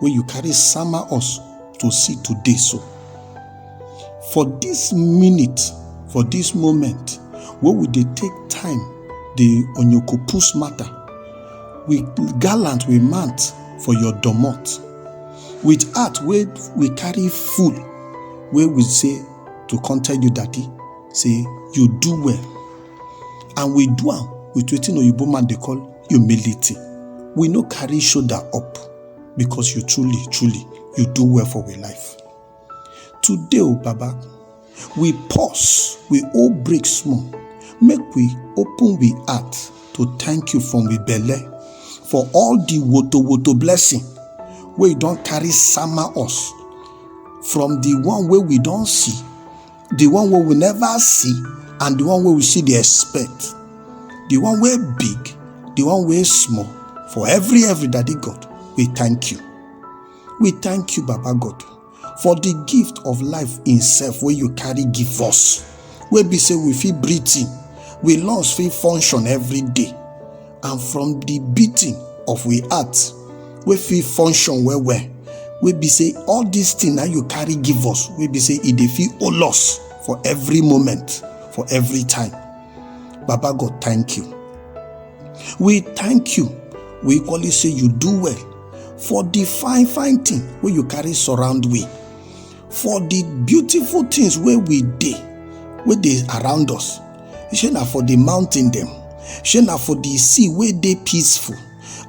wey you carry sama us to see today so for this minute for this moment wey we dey take time dey onyokopus matter we gallant we mount for your domot with heart wey we carry full wey we say to come tell you daddy say you do well and we do am with wetin oyibo man dey call humility we no carry shoulder up because you truly truly you do well for we life today o baba we pause we all break small make we open we heart to thank you from we belle for all the woto woto blessing wey don carry sama us from the one wey we don see the one wey we never see and the one wey we see dey expect the one wey big the one wey small for every every daddy god we thank you we thank you baba god for the gift of life itself wey you carry give us wey be say we fit breathe in we lungs fit function every day and from the beating of we heart wey fit function well well wey be say all this thing na you carry give us wey be say e dey fit hold us for every moment for every time baba god thank you we thank you we equally say you do well for the fine fine thing wey you carry surround we for the beautiful things wey we dey wey dey around us shey na for the mountain dem shey na for the sea wey dey peaceful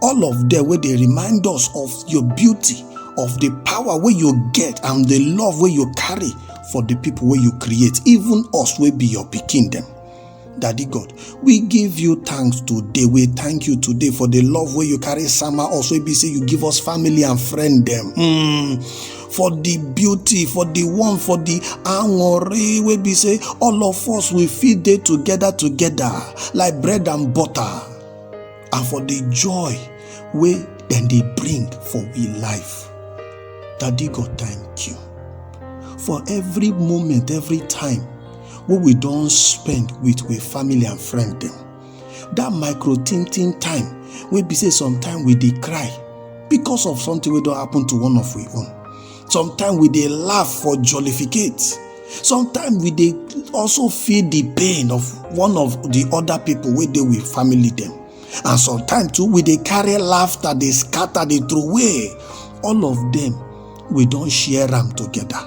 all of them wey dey remind us of your beauty of the power wey you get and the love wey you carry for the people wey you create even us wey be your pikin dem Daddy God, we give you thanks today. We thank you today for the love where you carry summer. Also, be say you give us family and friend them. Mm. For the beauty, for the one, for the angore, we be say all of us we feed day together together like bread and butter. and for the joy wey dem dey bring for we life daddy god thank you for every moment every time wey we don spend with we family and friend dem that micro tin tin time wey be say sometimes we dey cry because of something wey don happen to one of we own Sometimes we dey laugh for jollificate. Sometimes we dey also feel the pain of one of the other people wey dey with family dem. And sometimes too, we dey carry laughter, dey scatter, dey throw away. All of them, we don share am together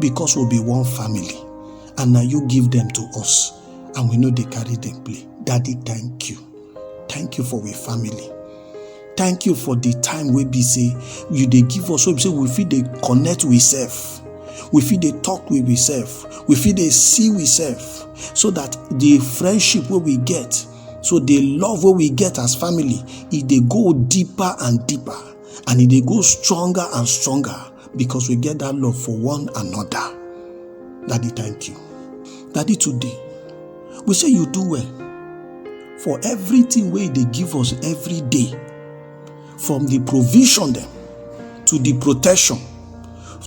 because we be one family. And na you give them to us and we no dey carry them play. Daddy, thank you. thank you for we family thank you for the time wey be say you dey give us wey be say we fit dey connect we sef we fit dey talk with we sef we fit dey see we sef so that the friendship wey we get so the love wey we get as family e dey go deeper and deeper and e dey go stronger and stronger because we get that love for one another daddy thank you daddy today we say you do well for everything wey you dey give us every day from the provision dem to the protection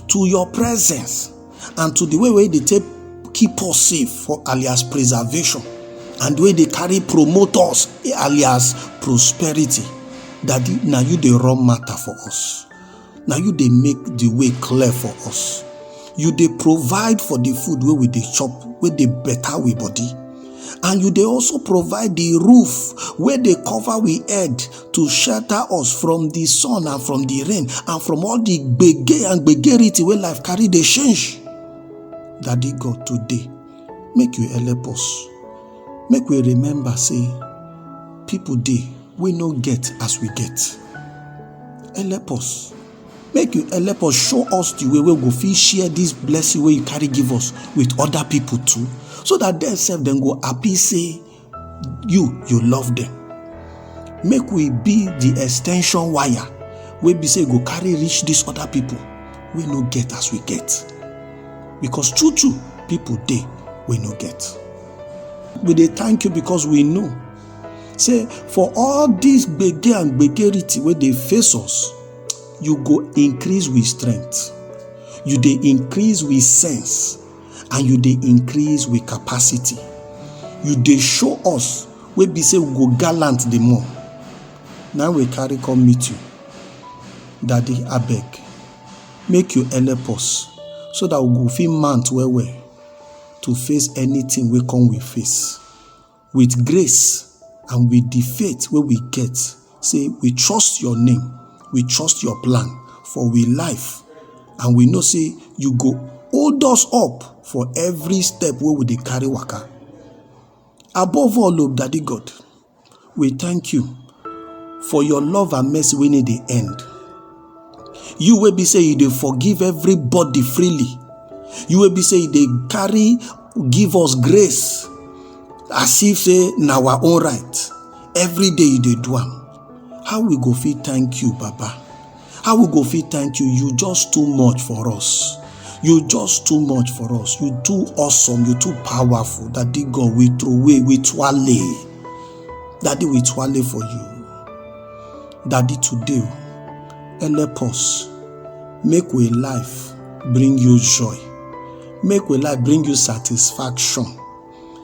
to your presence and to the way wey dey take keep us safe for alias preservation and wey dey carry promote us alias prosperity daddy na you dey run matter for us na you dey make the way clear for us you dey provide for the food wey we dey chop wey dey better we body and you dey also provide the roof wey dey cover we head to shelter us from the sun and from the rain and from all the gbege and gbegerity wey life carry dey change daddy god today make you help us make we remember say people dey wey no get as we get help us make you help us show us the way wey we go fit share this blessing wey you carry give us with other people too so that dem sef dem go happy say you you love them. make we be the extension wire wey be say e go carry reach these other people wey no get as we get because true true people dey wey no get we dey thank you because we know say for all dis gbege and gbegerity wey dey face us you go increase with strength you dey increase with sense and you dey increase with capacity you dey show us wey be say we go gallant the more na we carry come meet you daddy abeg make you help us so that we go fit mount well well to face anything wey come we face with grace and with the faith wey we get say we trust your name we trust your plan for we life and we know say you go hold us up for every step wey we dey carry waka above all o daddy god we thank you for your love and mercy wey no dey end you wey be say you dey forgive everybody freely you wey be say you dey carry give us grace as if say na our own right every day you dey do am how we go fit thank you baba How we go fit thank you? You just too much for us. You just too much for us. You too awesome. You too powerful. Daddy God, we throw away, we twale. Daddy, we twale for you. Daddy, today, help us. Make we life bring you joy. Make we life bring you satisfaction.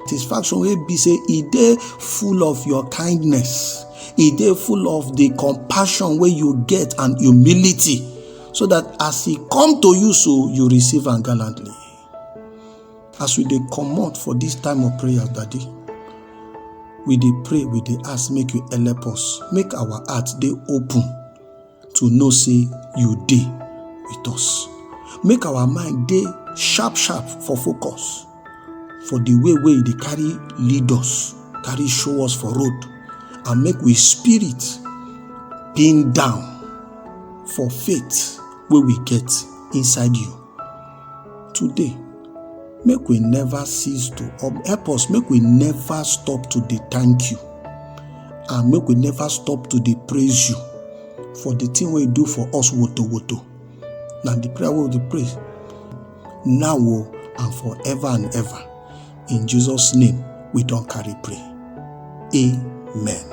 satisfaction wey be say e dey full of your kindness e dey full of the compassion wey you get and humility so that as e come to you so you receive am gallantly as we dey comot for this time of prayer daddy we dey pray we dey ask make you help us make our heart dey open to know say you dey with us make our mind dey sharp sharp for focus for the way wey e dey carry lead us carry show us for road and make we spirit pin down for faith wey we get inside you Today, make we never cease to um, help us, make we never stop to dey thank you and make we never stop to dey praise you for the thing wey you do for us woto woto. Na the prayer wey we dey pray now o oh, and forever and ever. In Jesus' name, we don carry pray. Amen.